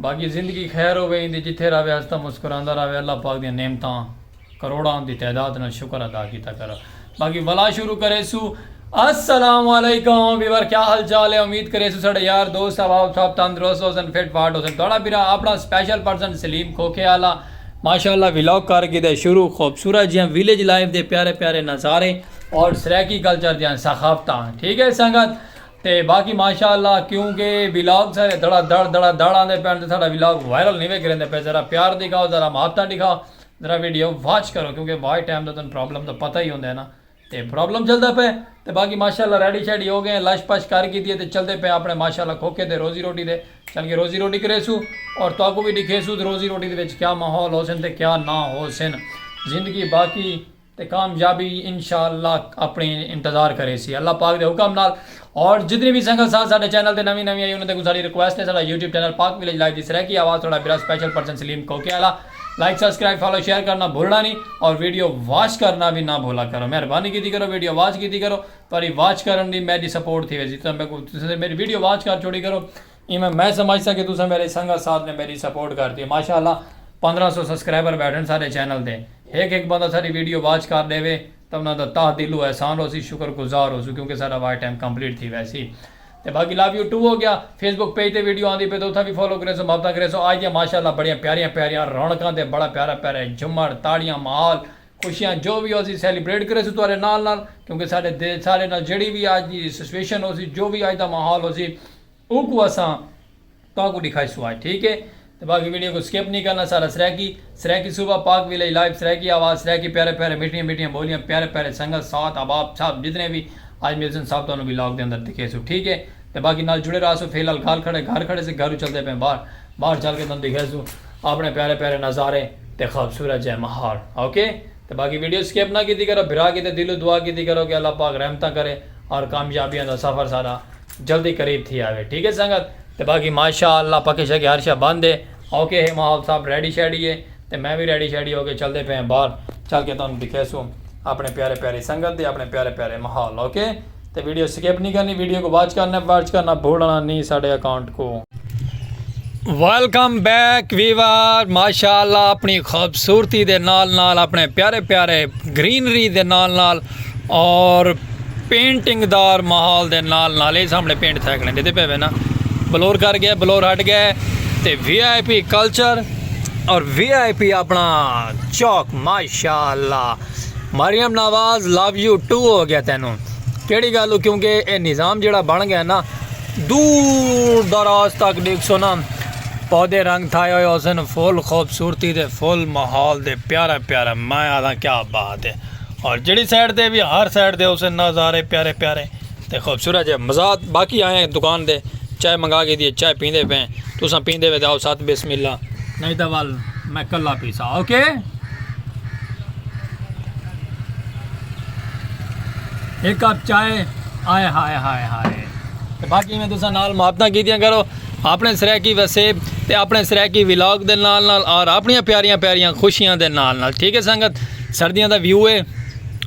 باقی زندگی خیر ہووے ایندی جتھے راہوے ہسدا مسکراندا راہوے اللہ پاک دیاں نعمتاں کروڑاں دی تعداد نال شکر ادا کیتا کرو باقی ولا شروع کریسوں السلام علیکم ویور کیا حال چال ہے امید کریسوں ساڈے یار دوست احباب سب تندرست ہوسن فٹ فاٹ ہوسن تہاڈا بھرا اپنا سپیشل پرسن سلیم کھوکھے آلا ماشاءاللہ ولاگ کر گھیدے شروع خوبصورت جیاں ویلیج لائف دے پیارے پیارے نظارے اور سرائیکی کلچر دیاں ثقافتاں ٹھیک ہے سنگت تے باقی ماشاء اللہ کیوں کہ ولاگ سارے دھڑا دھڑ دھڑا دھڑ آندے پین تے ساڈا ولاگ وائرل نہیں وے کریندے پے ذرا پیار دکھاؤ ذرا محبتاں ڈکھاؤ ذرا ویڈیو واچ کرو کیوں کہ واچ ٹائم دا تن پرابلم دا پتہ ہی ہوندے ہے نا تے پرابلم چلدا پے تے باقی ماشاء اللہ ریڈی شیڈی ہو گئے ہیں لش پش کر کیتی ہے تے چلدے پے اپنے ماشاء اللہ کھوکھے دے روزی روٹی دے چل کے روزی روٹی کریسو اور تہاکو بھی دکھیسو روزی روٹی دے وچ کیا ماحول ہوسن تے کیا نہ ہوسن زندگی باقی تے کامیابی انشاءاللہ اپنڑے انتظار کریسی اللہ پاک دے حکم نال اور جتنی وی سنگت ساتھ ساڈے چینل تے نویں نویں آئی انہاں تے کوں ساڈی ریکویسٹ ہے ساڈا YouTube channel Pak village life دی سرائیکی آواز تھوڑا برا سپیشل پرسن سلیم کوکے آلا لائک سبسکرائب فالو شیئر کرنا بھولنا نہیں اور ویڈیو واچ کرنا وی نہ بھولا کرو مہربانی کیتی کرو ویڈیو واچ کیتی کرو تہاڈی واچ کرن دی میڈی سپورٹ تھی ویسی تساں میڈی ویڈیو واچ کر چھوڑی کرو ایویں میں سمجھساں کہ تساں میرے سنگت ساتھ نے میڈی سپورٹ کرتی ہے ماشاء اللہ پندرہ سو سبسکرائبر بیٹھن ساڈے چینل تے ہک ہک بندہ ساڈی ویڈیو واچ کر ڈیوے تاں انہاں دا تہ دلوں احسان ہوسی شکر گزار ہوسوں کیونکہ ساڈا واچ ٹائم کمپلیٹ تھی ویسی تے باقی لو یو ٹو ہو گیا فیس بک پیج تے ویڈیو آندی پئی تے اتھاں وی فالو کریسو محبتاں کریسو آج دیاں ماشاء اللہ بڑیاں پیاریاں پیاریاں رونقاں تے بڑا پیارا پیارا ہے جھمڑ تاڑیاں ماحول خوشیاں جو وی ہوسی سیلیبریٹ کریسو تہاڈے نال نال کیونکہ ساڈے ساڈے نال جیڑھی وی آج دی سچویشن ہوسی جو وی آج دا ماحول ہوسی اوکوں اساں تہاکوں ڈکھائیسوں آج ٹھیک ہے تے باقی ویڈیو کوں سکپ نی کرنا سارا سرائیکی سرائیکی صوبہ پاک ویلیج لائیو سرائیکی آواز سرائیکی پیارے پیارے میٹھیاں میٹھیاں بولیاں پیارے پیارے سنگت ساتھ احباب سب جتنے وی آج ملسن سب تہانوں ولاگ دے اندر دکھیسوں ٹھیک ہے تے باقی نال جڑے راہسوں فی الحال گھر کھڑے گھر کھڑے سے گھروں چلدے پئے باہر باہر چل کے تہانوں دکھیسوں اپنے پیارے پیارے نظارے تے خوبصورت جئے ماحول اوکے تے باقی ویڈیو سکپ نہ کیتی کرو بھرا کیتے دلوں دعا کیتی کرو کہ اللہ پاک رحمتاں کرے اور کامیابیاں دا سفر سارا جلدی قریب تھی آوے ٹھیک ہے سنگت تے باقی ماشاء اللہ پکے شکے ہر شے بند ہے اوکے ہے ماحول صاحب ریڈی شیڈی ہے تے میں وی ریڈی شیڈی ہو کے چلدے پئے ہیں باہر چل کے تانوں دکھیسوں اپنے پیارے پیاری سنگت دے اپنے پیارے پیارے ماحول اوکے تے ویڈیو سکپ نہیں کرنی ویڈیو کو واچ کرنا واچ کرنا بھولنا نہیں ساڈے اکاؤنٹ کو ویلکم بیک ویور ماشاء اللہ اپنی خوبصورتی دے نال نال اپنے پیارے پیارے گرینری دے نال نال اور پینٹنگ دار ماحول دے نال نال اے سامنے پینٹ تھے کھڑے دیتے پے وے نا بلور کر گئے بلور ہٹ گئے تے وی آئی پی کلچر اور وی آئی پی اپنا چوک ماشاءاللہ Maryam Nawaz love you too ہو گیا تینوں کیڑی گالو کیونکہ اے نظام جڑا بن گیا نا دور دراز تک دیکھ سو نا پودے رنگ تھائے ہوئے حسن فل خوبصورتی دے فل ماحول دے پیارا پیارا میں آدھا کیا بات ہے اور جڑی سائیڈ دے بھی ہر سائیڈ دے اسے نظارے پیارے پیارے تے خوبصورت جے مزاد باقی آئے ہیں دکان دے چائے منگا گی دیئے چائے پیندے پہ تو ساں پیندے وے داؤ ساتھ بسم اللہ نہیں دا وال میں کلا پیسا اوکے ایک کپ چائے آئے ہائے ہائے ہائے باقی میں تو ساں نال محبتہ کی دیاں کرو اپݨے سرائیکی وسیب تے اپݨے سرائیکی ولاگ دے نال نال اور اپݨیاں پیاریاں پیاریاں خوشیاں دے نال نال ٹھیک ہے سنگت سردیاں دا ویو ہے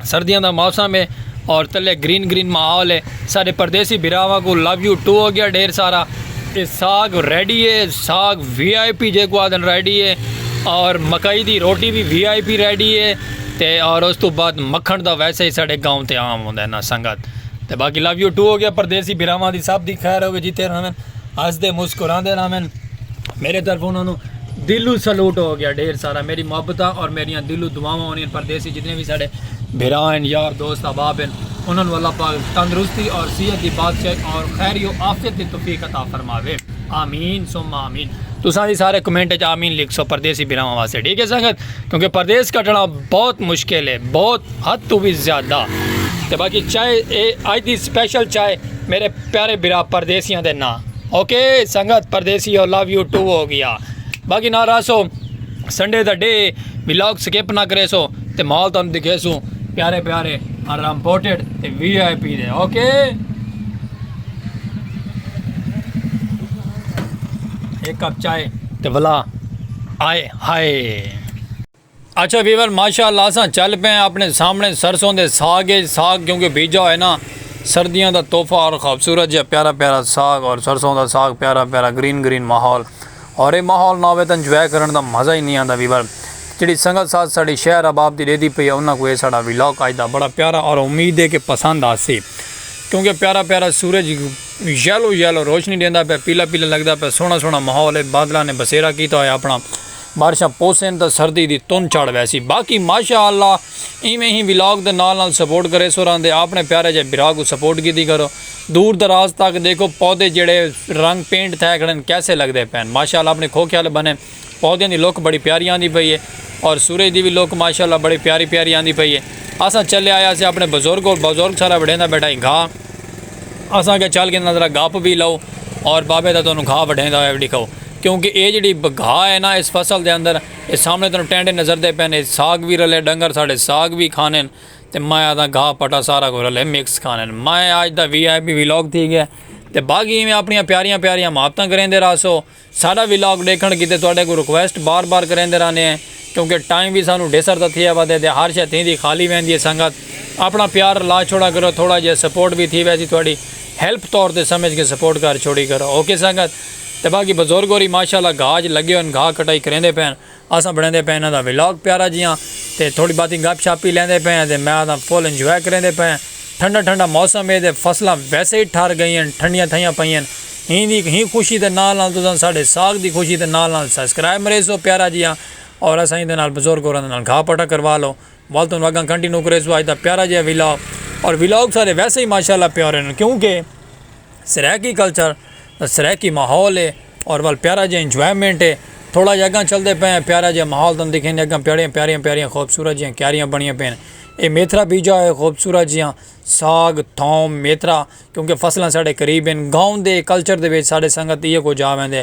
سردیاں دا موسم ہے اور تلے گرین گرین ماحول ہے سارے پردیسی بھراواں کو لو یو ٹو ہو گیا ڈھیر سارا یہ ساگ ریڈی ہے ساگ وی آئی پی جے کو آدن ریڈی ہے اور مکئی دی روٹی بھی وی آئی پی ریڈی ہے تے اور اس تو بعد مکھن دا ویسے ہی ساڑے گاؤں تے عام ہوندا ہے نا سنگت تے باقی لو یو ٹو ہو گیا پردیسی بھراواں دی سب دی خیر ہوے جتھے رہون ہسدے مسکراندے رہون میرے طرف انہاں نو دلو سلوٹ ہو گیا ڈھیر سارا میری محبتاں اور میریاں دلو دعاواں ہونیاں پردیسی جتنے وی ساڈے بھرا ہیں یار دوست احباب ہیں انہاں نو اللہ پاک تندرستی اور صحت دی بادشاہ اور خیر و عافیت دی توفیق عطا فرماوے آمین ثم آمین تساں دی سارے کمنٹ وچ آمین لکھ سو پردیسی بھراواں واسطے ٹھیک ہے سنگت کیونکہ پردیس کٹنا بہت مشکل ہے بہت حد توں وی زیادہ تے باقی چائے اے اج دی سپیشل چائے میرے پیارے برا پردیسیاں دے نا اوکے سنگت پردیسی او لو یو ٹو ہو گیا باقی نا راسو سنڈے دا ڈے ولاگ سکپ نہ کرے سو تے مال تانوں دکھے سو پیارے پیارے اور امپورٹڈ تے وی آئی پی دے اوکے ایک کپ چائے تے ولا آئے ہائے اچھا ویور ماشاء اللہ اساں چل پئے ہیں اپنے سامنے سرسوں دے ساگ اچ ساگ کیونکہ بیجا ہوئے نا سردیاں دا تحفہ اور خوبصورت جیا پیارا پیارا ساگ اور سرسوں دا ساگ پیارا پیارا گرین گرین ماحول اور اے ماحول نہ ہوئے تاں انجوائے کرن دا مزہ ہی نی آندا ویور جیڑی سنگت ساتھ ساڈی شہر احباب دی ڈیدھی پئی ہے انہاں کوں اے ساڈا ولاگ اج دا بڑا پیارا اور امید ہے کہ پسند آسی کیونکہ پیارا پیارا سورج یلو یلو روشنی ڈیندا پیا پیلا پیلا لگدا پیا سوہنا سوہنا ماحول ہے بادلاں نے بسیرا کیتا ہویا اپنا۔ بارشاں پوسن تاں سردی دی تن چڑھ ویسی باقی ماشاء اللہ ایویں ہی ولاگ دے نال نال سپورٹ کریسو راہندے آپنے پیارے جئے بھرا کوں سپورٹ کیتی کرو دور دراز تک دیکھو پودے جیڑھے رنگ پینٹ تھئے کھڑن کیسے لگدے پئن ماشاء اللہ اپنے کھوکھے آلے بنے پودیاں دی لک بڑی پیاری آندی پئی ہے اور سورج دی وی لک ماشاء اللہ بڑی پیاری پیاری آندی پئی ہے اساں چلے آیا سے اپنے بزرگ کول بزرگ سارا وڈھیندا بیٹھا ہی گھا اساں کے چل کے نظرا گپ وی لو اور بابے دا تانوں گھا وڈھیندا ہویا وی ڈکھاؤ۔ کیونکہ اے جیڑھی بگھا ہے نا اس فصل دے اندر اے سامنے تانوں ٹینڈے نظردے پئن اے ساگ وی رلے ڈنگر ساڈے ساگ وی کھانن تے میں آدھاں گھاہ پٹا سارا کجھ رلے مکس کھانن میں آج دا وی آئی پی ولاگ تھی گیا تے باقی ایویں اپنیاں پیاریاں پیاریاں محبتاں کریندے راہسو ساڈا ولاگ ڈیکھن کیتے تہاڈے کوں ریکویسٹ بار بار کریندے رہنے ہیں کیونکہ ٹائم وی سانوں ڈیسر دا تھیا ودے تے ہر شے تھیندی خالی ویندی ہے سنگت اپنا پیار لا چھوڑا کرو تھوڑا جیا سپورٹ وی تھی ویسی تہاڈی ہیلپ طور تے سمجھ کے سپورٹ کر چھوڑی کرو اوکے سنگت تے باقی بزرگ ہوری ماشاءاللہ گھا اچ لگے ہوئن گھا کٹائی کریندے پئے ہن اساں بنڑیندے پئے انہاں دا ولاگ پیارا جیہاں تے تھوڑی باتی گپ شپ وی لیندے پئے ہیں تے میں آکھداں فل انجوائے کریندے پئے ہیں ٹھنڈا ٹھنڈا موسم ہے تے فصلاں ویسے ہی ٹھر گئی ہن ٹھنڈیاں تھئیاں پئی ہن ہین دی ہی خوشی دے نال نال تساں ساڈے ساگ دی خوشی دے نال نال سبسکرائب مریسو پیارا جیہاں اور اساں ایندے نال بزرگ ہوراں دے نال گھا پٹا کروا لو ول توں اگاں کنٹینو کریسو اج دا پیارا جیہا ولاگ اور ولاگ سارے ویسے ہی ماشاءاللہ پیارے ہن کیونکہ سرائیکی کلچر دا سرائیکی ماحول ہے اور ول پیارا جے انجوائمنٹ ہے تھوڑا جے اگاں چلدے پئے ہیں پیارا جے ماحول توں دکھیں دے اگاں پیڑیاں پیاریاں پیاریاں خوبصورت جیاں کیاریاں بنیاں پئے ہیں اے میتھرا بیجا ہے خوبصورت جیاں ساگ تھوم میتھرا کیونکہ فصلاں ساڑے قریب ہیں گاؤں دے کلچر دے وچ ساڑے سنگت ایہ کو جاویں دے.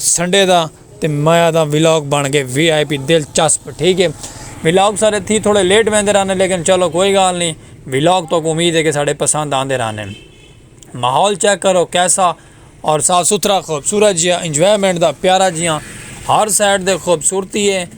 سنڈے دا تے مایا دا ولاگ بن گئے وی آئی پی دل چسپ ٹھیک ہے ولاگ سارے تھی تھوڑے لیٹ ویندے رہنے لیکن چلو کوئی گال نہیں ولاگ تو کو امید ہے کہ سارے پسند آندے رہنے ماحول چیک کرو کیسا اور صاف ستھرا خوبصورت جیا انجوائمنٹ دا پیارا جیا ہر سائڈ دے خوبصورتی ہے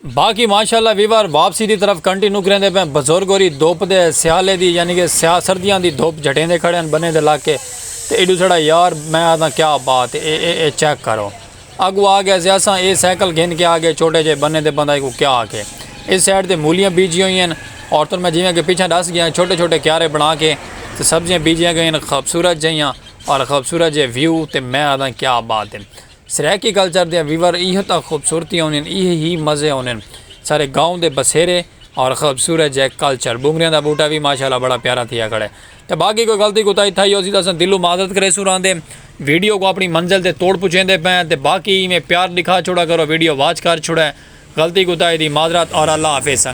باقی ماشاءاللہ ویور واپسی دی طرف کنٹینو کریندے پئے بزرگ ہوری دھوپ دے سیالے دی یعنی کہ سیاہ سردیاں دی دھوپ جھٹیندے کھڑے ہن بنیں دے لاکے تے ایڈو سڑا یار میں آدھاں کیا بات اے اے اے چیک کرو اگو آ گئے سے اساں اے سائیکل گھن کے آ گئے چھوٹے جئے بنیں تے بندہ ایکوں کیا آکھے اس سائیڈ تے مولیاں بیجی ہوئی ہن عورتن میں جیویں کہ پچھاں ڈس گیاں چھوٹے چھوٹے کیارے بنا کے تے سبزیاں بیجیاں گئین خوبصورت جئیاں اور خوبصورت جئے ویو تے میں آدھاں کیا بات اے۔ سرائیکی کلچر دیاں ویور ایہہ تاں خوبصورتیاں ہونین ایہہ ہی مزے ہونین سارے گاؤں دے بسیرے اور خوبصورت جے کلچر بونگریاں دا بوٹا وی ماشاءاللہ بڑا پیارا تھیا کھڑے تے باقی کوئی غلطی کوتاہی تھائی ہوسی تاں اساں دلوں معذرت کریسوں راندے ویڈیو کوں اپنی منزل تے توڑ پچیندے پئے آں تے باقی ایویں پیار ڈکھا چھوڑا کرو ویڈیو واچ کر چھوڑے غلطی کوتاہی دی معذرت اور اللہ حافظ سنگت۔